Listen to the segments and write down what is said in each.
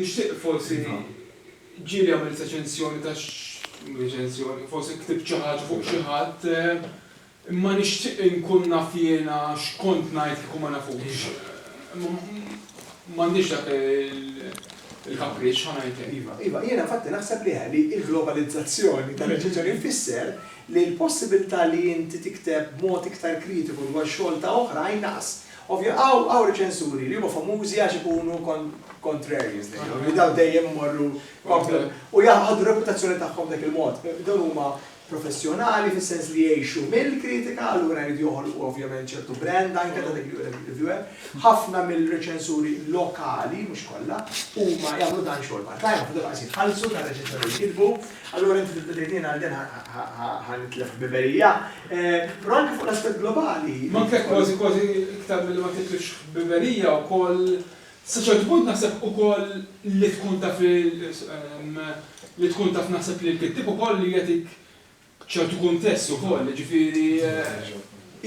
Nixtieq forsi ġieli għamilt reċensjoni ta' mhux reċensjoni, forsi ktibt xi ħaġa fuq xi ħadd, imma nixtieq inkun naf jiena x'kont ngħid kieku ma nafux. Imma m'għandix dak il-kapriċċ, ħa ngħid hekk. Iva, iva, jiena infatti naħseb li hi li l-globalizzazzjoni tar-reċenzjoni tfisser li l-possibilità li inti tikteb b'mod iktar kritiku dwar xogħol ta' oħrajn naqas. Ovvja, hawn hawn riċensuri li huma famużi għax ikunu kon contrarians dejjem, li dawn dejjem imorru kontra u jaħdu r-reputazzjoni tagħhom b'dak il-mod. Dawn huma professjonali fis-sens li jgħixu mill-kritika, allura jridu joħolqu ovvjament ċertu brand anke ta' dik li hu dak ir-reviewer. Ħafna mill-riċensuri lokali, mhux kollha, huma jagħmlu dan xogħol part-time, ħafna drabi qas jitħallsu tar-reċenzjoni li jkitbu, allura inti tibda tgħidli jien għal din ħa ħa ħa nitlef ħbiberija. Però anke fuq l-aspett globali. Manka kważi kważi iktar milli ma titlifx ħbiberija wkoll sa ċertu punt naħseb ukoll li tkun taf li li tkun taf naħseb li l-kittieb ukoll jagħtik ċertu kuntest ukoll, jiġifieri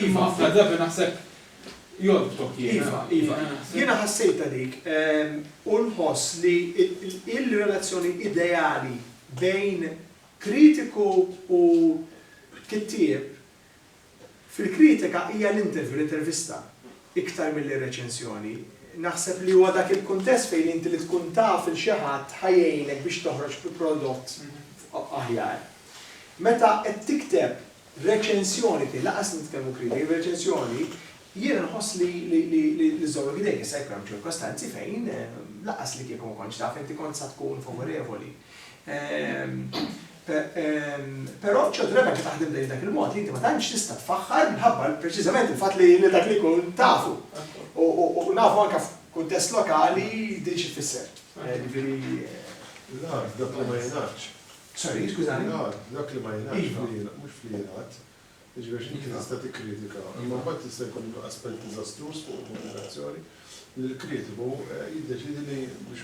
iva ħafna drabi naħseb jorbtok jien. Iva, iva. Jiena ħassejtha dik u nħoss li l-relazzjoni ideali bejn Kritiku u kittieb, Fil-kritika hija l-interview, l-intervista, iktar milli r-reċensjoni. Naħseb li huwa dak il-kuntest fejn inti li tkun taf lil xi ħadd ħa jgħinek biex toħroġ bi prodott aħjar. Meta qed tikteb reċensjoni tiegħi, lanqas nitkellmu kritika, reċensjoni, jiena nħoss li li żommok idejk, jista' jkun hemm ċirkostanzi fejn lanqas li kieku ma kontx taf inti kont sa tkun favorevoli. Però ċertu drabi anke taħdem lejn dak il-mod li inti ma tantx tista' tfaħħar minħabba preċiżament il-fatt li lil dak li jkun tafu. U nafu anke f'kuntest lokali din xi tfisser. Jiġifieri L-għar, dak li ma jingħadx. Sorry, skużani. L-għar, dak li ma jingħadx iva. fl-ilgħad, mhux fl-ilgħad. Jiġifieri għax inti tista' tikkritika, imma mbagħad tista' jkun aspett diżastruż fuq il-komunikazzjoni li l-kritiku eh, jiddeċidi li biex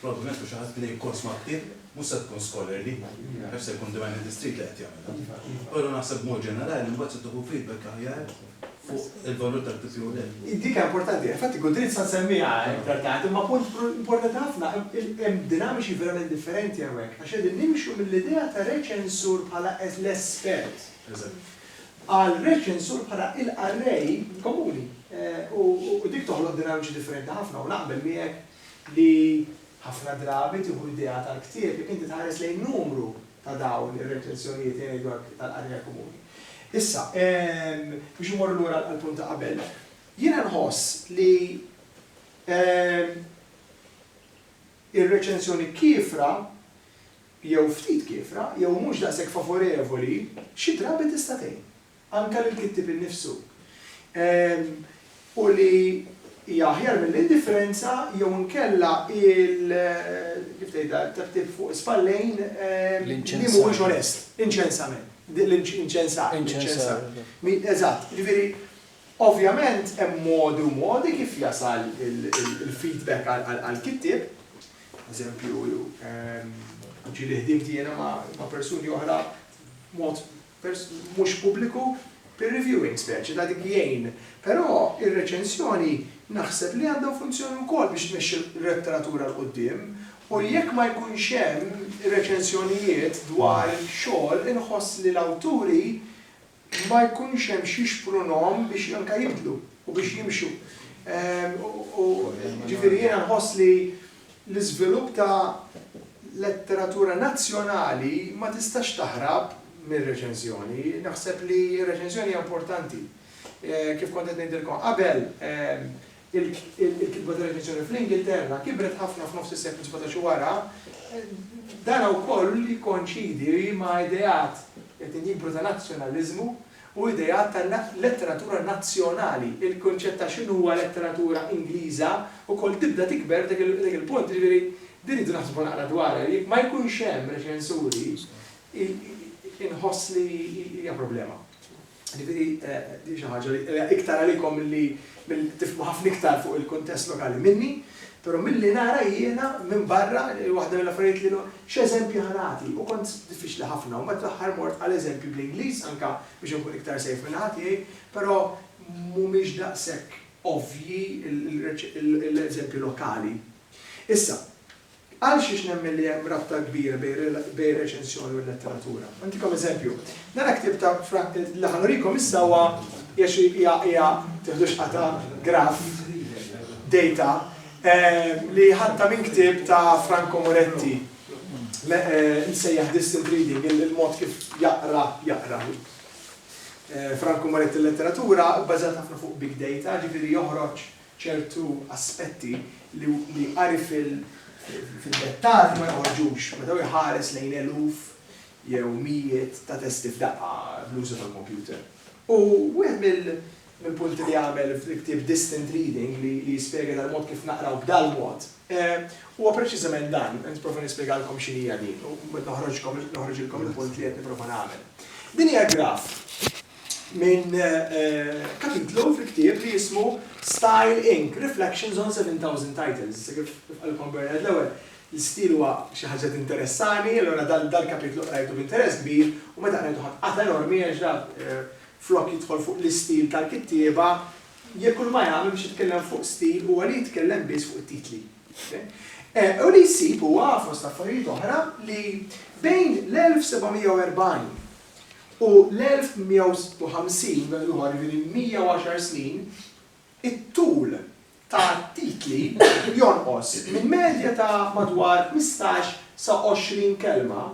Probabbilment mhux xi ħadd li jkun sma' ktieb, mhux se tkun scholarly, naf se jkun Divine in the Street li qed jagħmilha. Però naħseb b'mod ġenerali mbagħad se tieħu feedback aħjar fuq il-valur tal-PPUL. Dik hija importanti, infatti Gudrid sa nsemmiha iktar tard, imma punt importanti ħafna, hemm dinamiċi verament differenti hawnhekk għax qegħdin nimxu mill-idea ta' reċensur bħala l-espert għal reċensur bħala l-qarrej komuni u dik toħloq dinamiċi differenti ħafna u naqbel miegħek li ħafna drabi tieħu idea tal-ktieb jekk inti tħares lejn numru ta' dawn ir-reċensjonijiet li ngħidu hekk tal-qarrija komuni. Issa, biex immorru lura għall-punt ta' qabel, jiena nħoss li ir-reċensjoni kiefra jew ftit kiefra jew mhux daqshekk favorevoli xi drabi tista' tgħin. anke lill-kittieb innifsu, u li hija aħjar mill-indifferenza jew inkella il, kif tgħidha, it-tebtib fuq is-spallejn li mhuwiex onest, l-inċensament, l-inċensar, l-inċensar. Eżatt, jiġifieri, ovvjament hemm modi u modi kif jasal il-feedback għall-kittieb, eżempju, ġieli ħdimti jiena ma' persuni oħra b'mod mhux pubbliku, peer reviewing speċi ta' dik jgħin. Però ir-reċensjoni naħseb li għandha funzjoni wkoll biex tmexxi l-letteratura 'l quddiem u jekk ma jkunx hemm reċensjonijiet dwar xogħol inħoss li l-awturi ma jkunx hemm x'jixprunhom biex anke jibdlu u biex jimxu. Ġifieri jiena nħoss li L-iżvilupp ta' letteratura nazzjonali ma tistax taħrab mir-reċenżjoni. Naħseb li r-reċenżjoni hija importanti. Kif kont qed ngħidilkom qabel, il-kitba ta' reċenżjoni fl-Ingilterra kibret ħafna f'nofs is-seklu sbatax u wara. Dan wkoll jikkonċidi ma' ideat li qed jikbru ta' nazzjonaliżmu. u ideat ta' letteratura nazzjonali. Il-kunċett ta' x'inhuwa letteratura Ingliża wkoll tibda tikber dak il-punt, jiġifieri din irridu naħsbu naqra dwarha. Jekk ma jkunx hemm reċensuri inħoss li hija problema. Jiġifieri din xi ħaġa li hija iktar għalikom milli tifhmu ħafna iktar fuq il-kuntest lokali minni. Però milli nara jiena minn barra, waħda mill-affarijiet li no, x'eżempji ħa nagħti? U kont diffiċli ħafna u mbagħad fl-aħħar mort għal eżempji bl-Ingliż anke biex inkun iktar safe min-naħa tiegħi, però mhumiex daqshekk ovvji l-eżempji lokali. Issa, Għal xiex nemmen li hemm rabta kbira bejn ir-reċensjoni u l-letteratura? Nagħtikom eżempju. Dan il-ktieb ta' Frank, li ħa nurikom issa huwa hija hija teħdux qata' graf, data, eh, li ħatta minn ktieb ta' Franco Moretti Eh, nsejjaħ distant reading, il-mod kif jaqra, jaqra. Eh, Franku Moretti letteratura bbażat ħafna fuq big data, ġifiri joħroġ ċertu aspetti li qari fid-dettall ma joħorġux meta hu jħares lejn eluf jew mijiet ta' testi f'daqqa bl-użu tal-kompjuter. U wieħed mill-punti li għamel fil-ktieb Distant Reading li jispjega dal-mod kif naqraw b'dal-mod huwa preċiżament dan, nipprova nispjegalkom x'inhi hija din u mbagħad noħroġilkom il-punt li qed nipprova nagħmel. Din hija graf. minn kapitlu fil-ktieb li jismu Style Inc. Reflections on 7,000 Titles. Issa kif qalilkom Bernard l-ewwel, l-istil huwa xi ħaġa tinteressani, allura dal-kapitlu qrajtu b'interess kbir u meta qrajtu ħadt qata' enormi għax dak flok jidħol fuq l-istil tal-kittieba, jekk kull ma jagħmel biex jitkellem fuq stil huwa li jitkellem biss fuq it-titli. U li jsib huwa, fost affarijiet oħra, li bejn l-1740 U l-1156, meta tieħu ħsieb jiġifieri 110 snin, it-tul ta' titli jonqos minn medja ta' madwar ħmistax sa għoxrin kelma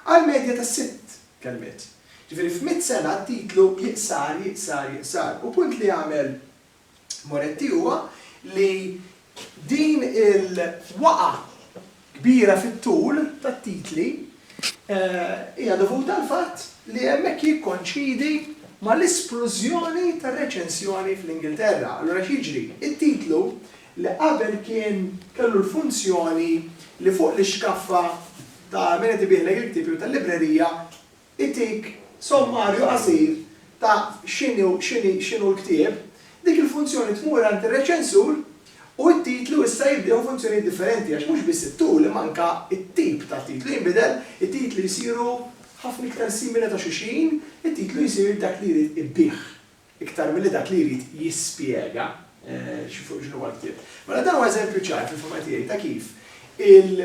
għal medja ta' sitt kelmiet. Jiġifieri f'mitt sena t-titlu jiqsar, jiqsar, jiqsar. U punt li għamel Moretti huwa li din il-waqgħa kbira fit-tul tat-titli hija dovuta għall-fatt li hemmhekk jikkonċidi mal-isplużjoni tar-reċensjoni fl-Ingilterra. Allura x'jiġri? It-titlu li qabel kien kellu l-funzjoni li fuq l-ixkaffa ta' min qed ibigħlek il-ktieb jew tal-librerija itik sommarju qasir ta' x'inhu x'inhi x'inhu l-ktieb, dik il-funzjoni tmur għand ir-reċensur u t-titlu issa jiddieħu funzjonijiet differenti għax mhux biss it-tul imma anke t-tip ta' titlu jinbidel, it-titli jsiru ħafna iktar simili ta' xulxin, it-titlu jsir dak li jrid ibbiegħ. iktar milli dak li jrid jispjega fuq x'inhu huwa l-ktieb. Mela dan huwa eżempju ċar fil-fehma tiegħi ta' kif il,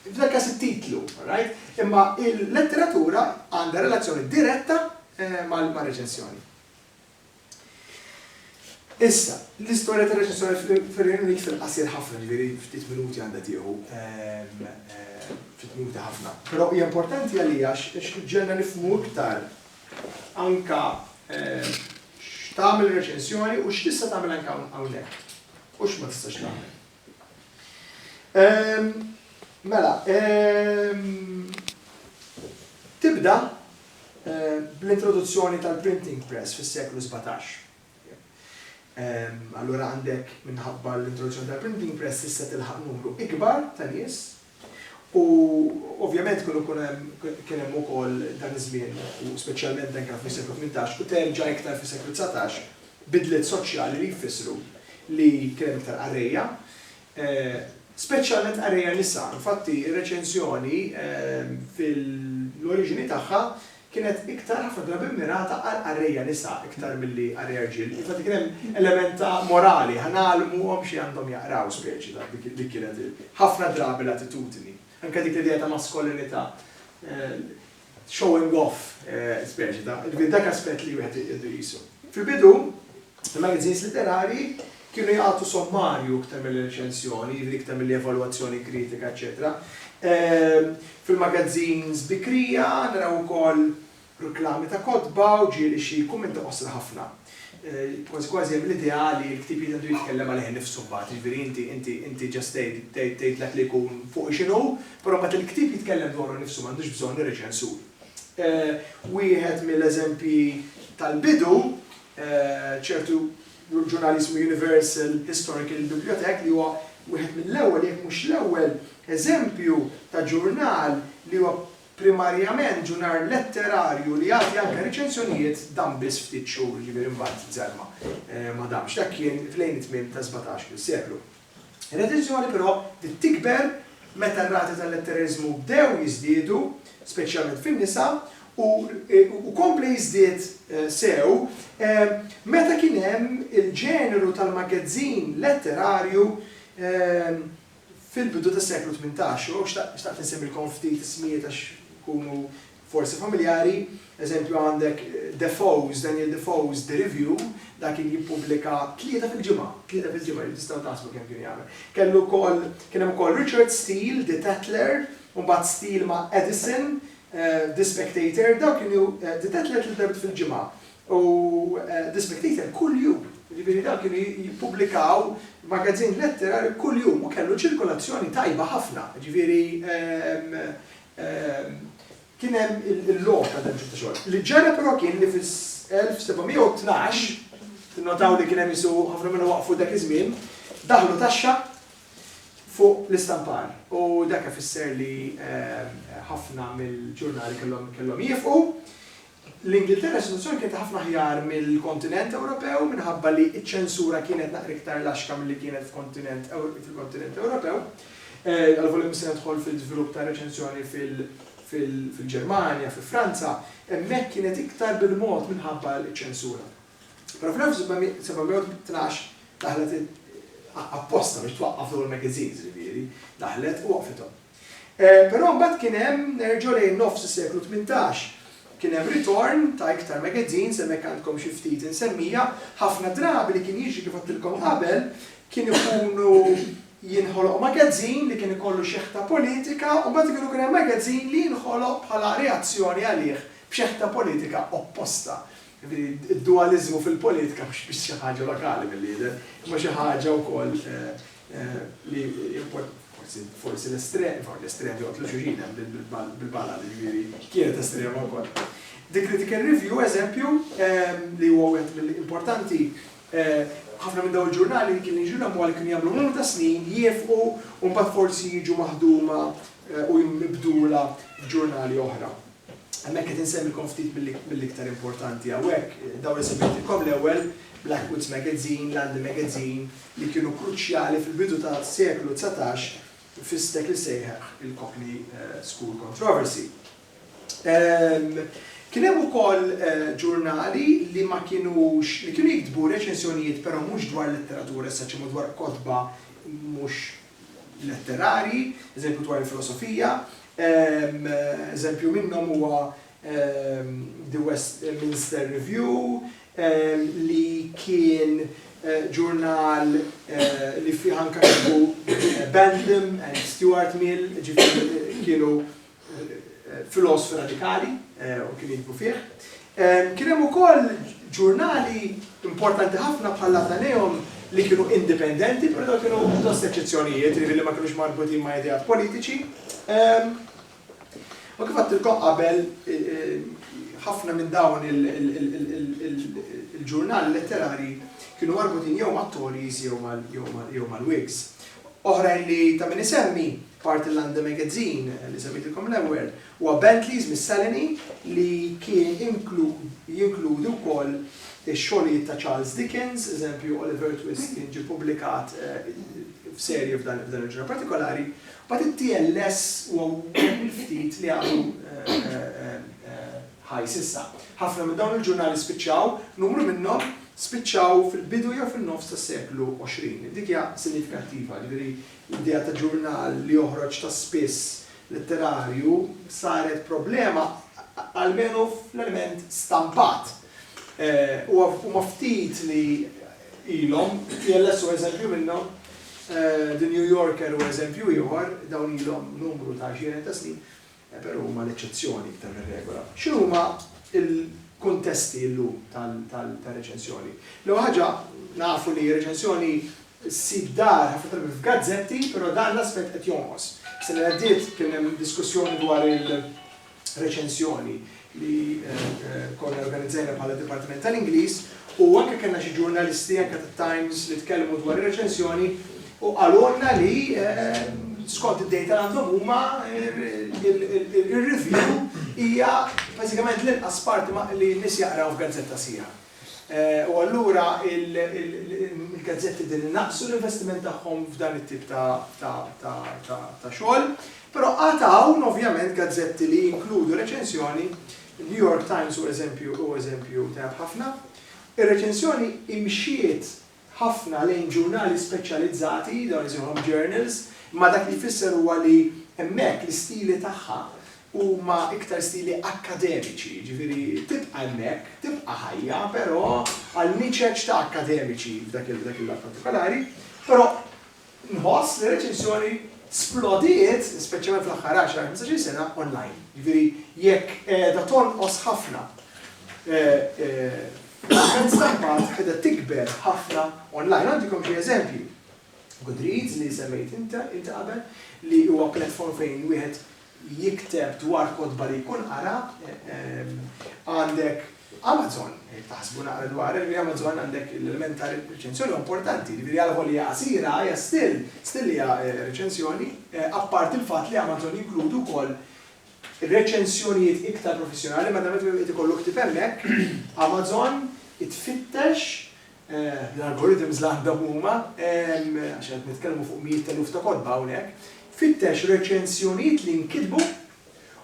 f'dan il-każ it-titlu, alright, imma l-letteratura għandha relazzjoni diretta mar-reċensjoni. Issa, l-istorja tar-reċensjoni fir-Renju Unit fil-qasir ħafna, ġifieri ftit minuti għandha tieħu, ftit minuti ħafna. Però hija importanti għalija għax ġiegħelna nifhmu iktar anke x'tagħmel reċensjoni u x'tista' tagħmel anke hawnhekk u x'ma tistax tagħmel. Mela, tibda bl-introduzzjoni tal-printing press fis-seklu 17. Allura għandek minħabba l-introduzzjoni tal-printing press tista' tilħaq numru ikbar ta' nies U ovvjament kienu jkun hemm, kien hemm ukoll dan iż-żmien, u speċjalment dan kien hawn fis-seklu tmintax u terġa' iktar fis-seklu dsatax, bidliet soċjali li jfissru li kien hemm iktar qarrejja, speċjalment qarrejja nisa. Infatti r-reċensjoni fil-oriġini tagħha kienet iktar ħafna drabi mmirata għal qarrejja nisa iktar milli qarrejja rġiel. Infatti kien hemm element ta' morali, ħa ngħallmuhom xi għandhom jaqraw speċi ta' dik kienet ħafna drabi l-attitudni. Anke dik l-idea ta' maskolinità, showing off speċi ta', dak aspett li wieħed iqisu. Fil-bidu, Il-magazines litterarji kienu jagħtu sommarju iktar milli reċensjoni, jiġifieri iktar milli evalwazzjoni kritika, eċċetera. Fil-magazines bikrija naraw ukoll reklami ta' kotba u ġieli xi kummenti qosra ħafna. Kważi kważi hemm l-idea li l-ktieb jrid għandu jitkellem għalih innifsu mbagħad, jiġifieri inti inti inti ġast tgħid tgħid tgħid dak li jkun fuqu x'inhu, però mbagħad il-ktieb jitkellem dwaru nnifsu m'għandux bżonn ir-reċensur. Wieħed mill-eżempji tal-bidu ċertu ġurnal jismu Universal Historical Bibliothèque li huwa wieħed mill-ewwel jekk mhux l-ewwel eżempju ta' ġurnal li huwa primarjament ġurnal letterarju li jagħti anke riċensjonijiet dam biss ftit xhur, jiġifieri mbagħad żelma ma damx. Dak kien f'lejn it-tmiem tas-sbatax-il seklu. L-addizzjoni però bdiet tikber meta r-rati tal-lettereriżmu bdew jiżdiedu, speċjalment fin-nisa, u u kompla jiżdied sew meta kien hemm il-ġeneru tal-maggazzin letterarju fil-bidu tas-seklu tmintax. U hawn xtaqt insemmilkom ftit ismijiet għax ikunu forsi familjari, eżempju għandek Defoe's, Daniel Defoe's The Review, dan kien jippubblika tlieta fil-ġimgħa, tlieta fil-ġimgħa, ġifieri tistgħu taħsbu kemm kien jagħmel. Kellu wkoll, kien hemm ukoll Richard Steele, The Tatler, u mbagħad Steele ma' Edison, The Spectator, dawn kienu, The Tatler tliet darbiet fil-ġimgħa, u The Spectator kuljum, ġifieri dawn kienu jippubblikaw magazzin letterarju kuljum u kellu ċirkolazzjoni tajba ħafna, ġifieri kien hemm il-logħob ta' Dempsey ta' xogħol. Li ġara però kien li fis-1712, tinnotaw li kien hemm isu ħafna minnhom waqfu dak iż-żmien, daħlu taxxa fuq l-istampar. U dak ifisser li ħafna mill-ġurnali kellhom kellhom jieqfu. L-Ingilterra s-sitwazzjoni kienet ħafna aħjar mill-kontinent Ewropew minħabba li ċ-ċensura kienet naqra iktar laxka milli kienet f'kontinent fil-kontinent Ewropew. Għalvolja mhux se nidħol fil-żvilupp tar-reċensjoni fil-Ġermanja, fi Franza, hemmhekk kienet iktar bil-mod minħabba ċ-ċensura. Però fl-1712 daħlet apposta biex twaqqaf dawn il-magazines, ġifieri, daħlet u waqqfithom. Però mbagħad kien hemm, nerġa' lejn nofs is-seklu tmintax, kien hemm ritorn ta' iktar magazines, hemmhekk għandkom xi ftit insemmija, ħafna drabi li kien jiġri kif għedtilkom qabel, kien ikunu jinħoloq magazine li kien ikollu xeħta politika u mbagħad ikun ikun hemm magazine li jinħoloq bħala reazzjoni għalih b'xeħta politika opposta. Jiġifieri d-dualiżmu fil-politika mhux biss xi ħaġa lokali mill-li jidher, imma xi ħaġa wkoll li forsi forsi l-estrem, forsi l-estrem li għotlu xuxina bil-bala li ġviri, kienet estrem u kol. The Critical Review, eżempju, ehm, li huwa għet mill-importanti, eh, ħafna minn daw il-ġurnali li kien jiġu l għal kien jagħmlu numru ta' snin, jifqu, un bat forsi jiġu maħduma eh, u jimbdula ġurnali oħra. Hemmhekk qed insemmilkom ftit mill-iktar importanti hawnhekk, dawn li semmejtilkom l-ewwel, Blackwood's Magazine, London Magazine, li kienu kruċjali fil-bidu tas-seklu dsatax fis-stek li sejħeħ il-Cockney School Controversy. Kien hemm ukoll ġurnali li ma kienux, li kienu jiktbu reċensjonijiet però mhux dwar letteratura as-such imma dwar kotba mhux letterarji, eżempju dwar il-filosofija, eżempju minnhom huwa The Westminster Review li kien ġurnal li fih anke kitbu Bentham and Stuart Mill, ġifieri kienu filosf radikali u kien jiktbu fih. Kien hemm ukoll ġurnali importanti ħafna bħall-Athenaeum li kienu indipendenti, però dawn kienu pjuttost eċċezzjonijiet, jiġifieri li ma kinux marbutin ma' ideat politiċi. U kif għattilkom qabel, ħafna minn dawn il-ġurnali letterari kienu marbutin jew mat-Tories jew mal-Whigs. Oħrajn li ta' min isemmi Parti l-London Magazine li semmejtilkom l-ewwel huwa Bentleys mis-Salony li kien jinkludi wkoll ix-xogħlijiet ta' Charles Dickens, eżempju Oliver Twist kien ġie ppubblikat f'serje f'dan il-ġurnal partikolari. Mbagħad it-TLS huwa wieħed mill-ftit li għadu ħaj s'issa. Ħafna minn dawn il-ġurnali spiċċaw, numru minnhom spiċċaw fil-bidu jew fin-nofs tas-seklu 20. Dik hija sinjifikattiva, jiġifieri L-idea ta' ġurnal li joħroġ ta' spiss litterarju saret problema, almenu fl-element stampat. Huma ftit li ilhom, TLS hu eżempju minnhom, The New Yorker hu eżempju ieħor, dawn ilhom numru ta' għexieren ta' snin, Però huma l-eċċezzjoni iktar mir-regola. X'inhuma l-kuntesti llum tar-reċensjoni? L-ewwel ħaġa, nafu li r-reċensjoni ssib dar ħafna drabi f'gazzetti, però dan l-aspett qed jonqos. Is-sena li għaddiet kien hemm diskussjoni dwar il-reċensjoni li konna organizzajna bħala Dipartiment tal-Ingliż u anke kellna xi ġurnalisti anke tat-Times li tkellmu dwar ir-reċensjoni u qalulna li skont id-dejta li għandhom huma ir-review hija bażikament l-inqas parti li n-nies jaqraw f'gazzetta sħiħa. U allura il-gazzetti qegħdin inaqqsu l-investiment tagħhom f'dan it-tip ta' xogħol. Però għad hawn ovvjament gazzetti li jinkludu reċensjoni, il-New York Times hu eżempju tajjeb ħafna. Ir-reċensjoni imxiet ħafna lejn ġurnali speċjalizzati, dawn isejħulhom journals, imma dak li jfisser huwa li hemmhekk l-istili tagħha huma iktar stili akkademiċi, jiġifieri tibqa' hemmhekk, tibqa' ħajja, però għal niċeċ ta' akkademiċi f'dak il-lat partikolari, però, Nħoss li r-reċessjoni splodiet, speċjalment fl-aħħar għaxar, ħmistax-il sena, online. Jiġifieri jekk qiegħda tonqos ħafna l-ammont stampat qiegħda tikber ħafna online. Ngħaddikom xi eżempji. Goodreads li semmejt inti qabel li huwa platform fejn wieħed li jikteb dwar kotba li jkun qara, għandek Amazon, jekk taħsbu naqra dwar hekk, ġifieri Amazon għandek l-element ta' reċensjoni huwa importanti, ġifieri għal volja hija qasira, hija still, still hija reċensjoni, apparti l-fatt li Amazon jinkludi wkoll reċensjonijiet iktar professjonali, madanakollu irid ikollok ħtif hemmhekk, Amazon tfittex l-algorithms li għandhom huma, għax qed nitkellmu fuq mijiet ta' eluf ta' kotba hawnhekk, fittex reċensjonijiet li nkitbu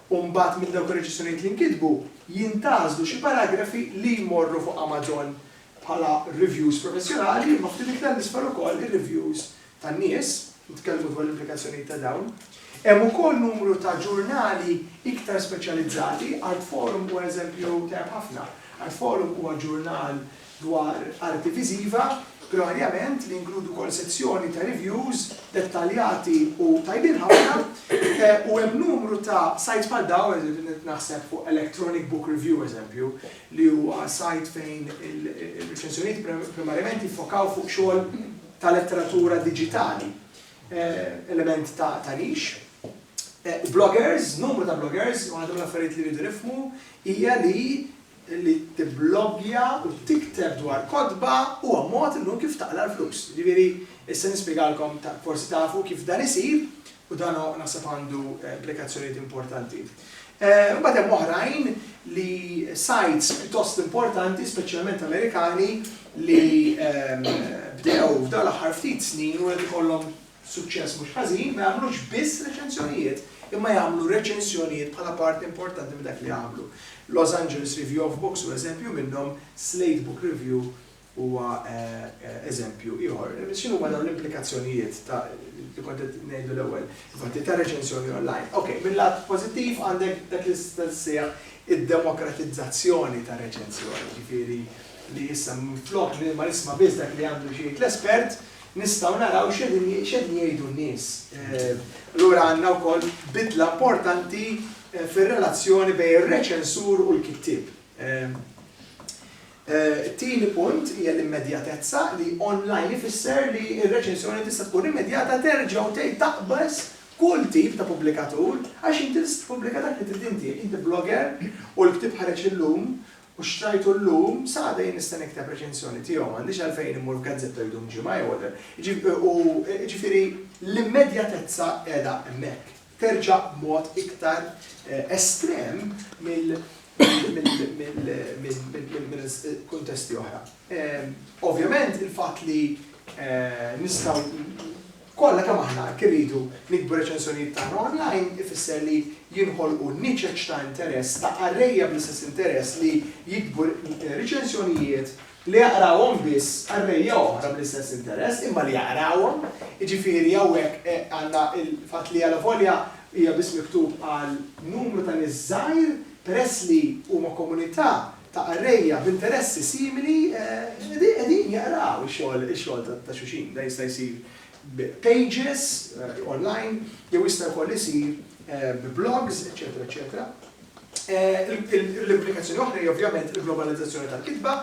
u mbagħad minn dawk ir-reċensjonijiet li nkitbu jintgħażlu xi paragrafi li jmorru fuq Amazon bħala reviews professjonali imma ftit iktar 'l isfel ukoll ir-reviews tan-nies, nitkellmu dwar l-implikazzjonijiet ta' dawn. Hemm ukoll numru ta' ġurnali iktar speċjalizzati, Artforum huwa eżempju tajjeb ħafna. Artforum huwa ġurnal dwar arti viżiva, primariament, li jinkludu wkoll sezzjoni ta' reviews dettaljati u tajbin ħafna, u hemm numru ta' sajts bħal dawn, eżempju qed naħseb fuq Electronic Book Review, eżempju, li huwa sajt fejn ir-reċensjonijiet primariament jiffokaw fuq xogħol ta' letteratura diġitali, element ta' tagħrix. Bloggers, numru ta' bloggers, waħda mill-affarijiet li jridu jifhmu hija li li tibloggja u tikteb dwar kotba huwa mod illum kif taqla' l-flus. Jiġifieri, issa nispjegalkom, forsi tafu kif dan isir, U dan naħseb għandu implikazzjonijiet importanti. Imbagħad hemm oħrajn li sites pjuttost importanti, speċjalment Amerikani, li bdew f'dawn l-aħħar ftit snin u qed ikollhom suċċess mhux ħażin, ma jagħmlux biss reċensjonijiet, imma jagħmlu reċensjonijiet bħala parti importanti minn dak li jagħmlu. Los Angeles Review of Books hu eżempju minnhom, Slate Book Review huwa eżempju ieħor. X'inhuma dawn l-implikazzjonijiet ta' li kont qed ngħidu l-ewwel, infatti ta' reċensjoni online. Okej, mil-lat pożittiv għandek dak li tista' ssejjaħ id-demokratizzazzjoni tar-reċensjoni, jiġifieri li issa minflok li ma nisma' biss dak li għandu xi jgħid l-espert, nistgħu naraw x'qegħdin jgħidu n-nies. Allura għandna wkoll bidla importanti fir-relazzjoni bejn ir-reċensur u l-kittieb. It-tieni punt hija l-immedjatezza, li online ifisser li r-reċensjoni tista' tkun immedjata, terġa' u tgħid taqbeż kull tip ta' pubblikatur, għax inti tista' tippubblika dak li trid inti, jekk inti blogger u l-ktieb ħareġ illum u xtrajtu llum, sa għada jien nista' nikteb reċensjoni tiegħu, m'għandix għalfejn immur f'gazzetta u jdum ġimgħa jew whatever. Jiġifieri l-immedjatezza qiegħda hemmhekk. terġa' b'mod iktar estrem mill-kuntesti oħra. Ovvjament il-fatt li nistgħu kollha kemm aħna hekk irridu nikbu r-reċensjonijiet tagħna online ifisser li jinħolqu niċeċ ta' interess ta' qarrejja bl-istess interess li jiktbu riċensjonijiet Li jaqrawhom biss qarrejja oħra bl-istess interess, imma li jaqrawhom. Jiġifieri hawnhekk għandna l-fatt li alavolja hija biss miktub għal numru ta' nies żgħir, peress li huma komunità ta' qarrejja b'interessi simili, qegħdin jaqraw ix-xogħol ta' xulxin. Dan jista' jsir b' pages online jew jista' wkoll isir b' blogs, eċċetera eċċetera. L-implikazzjoni oħra hija ovvjament il-globalizzazzjoni tal-kitba